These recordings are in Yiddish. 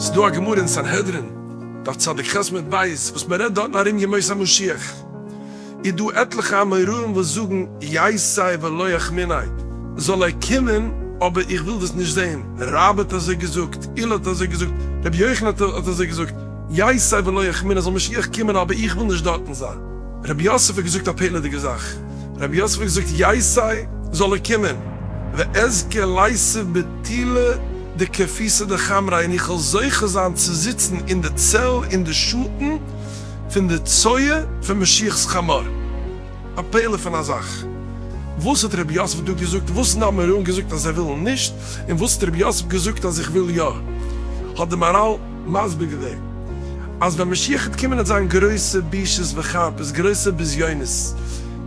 ס'דא א גמרא אין סנהדרין דף צדיק ח עמוד ב' וואס מען רעדט דארטן ארום ימות המשיח, איז דא עטליכע אמוראים וואס זאגן יעשה ולא יחמינאי, זאל ער קומען אבער איך וויל דאס נישט זעהן, רבא האט אזוי געזאגט, הילל האט אזוי געזאגט, רבי יוחנן האט אזוי געזאגט, יעשה ולא יחמינאי, זאל משיח קומען אבער איך וויל נישט דארטן זיין. רבי יוסף האט געזאגט א פעלעדיגע זאך, רבי יוסף האט געזאגט ייסעי זאל ער קומען, ואזכה לייסעו בתילה דקפיסא דחמרא, און איך וועל זוכה זיין צו זיצן אין די צל אין די שאטן פון די צואה פון משיח'ס חמור. א פלא פון א זאך. וואס האט רבי יוסף דא געזאגט? וואס האבן אמורא'ן געזאגט אז זיי ווילן נישט, און וואס האט רבי יוסף געזאגט אז איך וויל יא? האט די מאראל. מסביר געווען אז ווען משיח העט קומען העט זיין גרויסע בושות וחרפות, גרויסע בזיונות,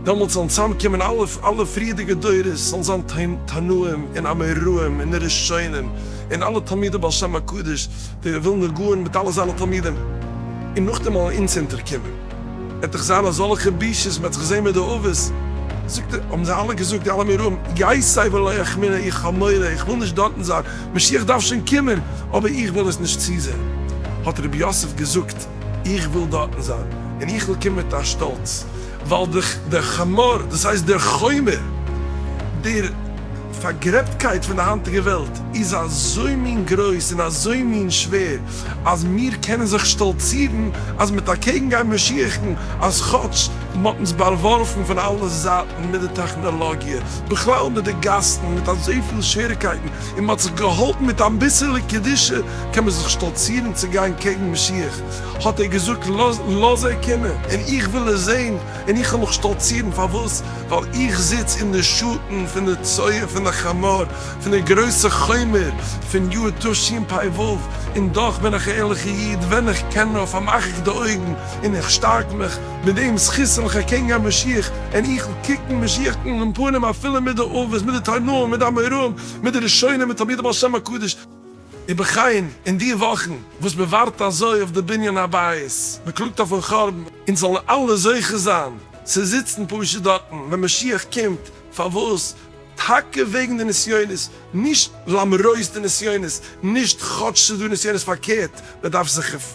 דעמאלטס וועלן צוזאם קומען אלע אלע פריערדיגע דורות, ס'וועלן זיין תנאים און אמוראים און ראשונים און אלע תלמידי בעל שם הקדוש, די ווילנא גאון מיט אלע זיינע תלמידים, און נאכדעם וועלן אונז אונטער קומען, העט דאך זיין אזאלעכע בושות, מ'העט זיך זעהן מיט די אבות, זאגט ער, האבן זיי אלע געזאגט, די אלע אמוראים, יי סיי ולא יחמינה, איך האב מורא, איך וויל נישט דארטן זיין, משיח דארף שוין קומען, אבער איך וויל עס נישט צוזען. האט רבי יוסף געזאגט, איך וויל דארטן זיין, און איך וויל קומען מיט א שטאלץ, ווייל דער חמור, דאס הייסט דער חומר, דער פארגרעבטקייט פון די היינטיגע וועלט, איז אזוי מין גרויס און אזוי מין שווער, אז מיר קענען זיך שטאלצירן אז מיט אקעגנגיין משיח'ן, אז כאטש, מ'האט אונז באווארפן פון אלע זייטן מיט די טעכנאלאגיע, בכלל מיט די גאסן, מיט אזויפיל שעריקייטן, און מ'האט זיך געהאלטן מיט אביסעלע קדושה קען מען זיך שטאלצירן צו גיין קעגן משיח, האט ער געזאגט לאז ער קומען און איך וועל עס זען און איך וועל מיך שטאלצירן, פארוואס? ווייל איך זיץ אין די שאטן פון די צואה פון די חמור פון די גרויסע חומר פון יאר תשי פ ו, און דאך בין איך א ערליכע איד, ווען איך קען נאר פארמאך איך די אויגן און איך שטארק מיך. מיט דעם זכות וועל איך ארקעגן גיין משיח, און איך וועל קוקן משיח אן אין פנים אפילו מיט די אבות, מיט די תנאים, מיט די אמוראים, מיט די ראשונים, מיט תלמידי בעל שם הקדוש. ובכן, אין די וואכן וואס מען ווארט אזוי אויף די בנין הבית, מען קלאגט אויפ'ן חורבן, אונז זאלן אלע זוכה זיין צו זיצן פשוט דארטן ווען משיח קומט, פארוואס? טאקע וועגן די נסיונות, נישט למרות די נסיונות, נישט כאטש ס'איז דא נסיונות, פארקערט, מען דארף זיך.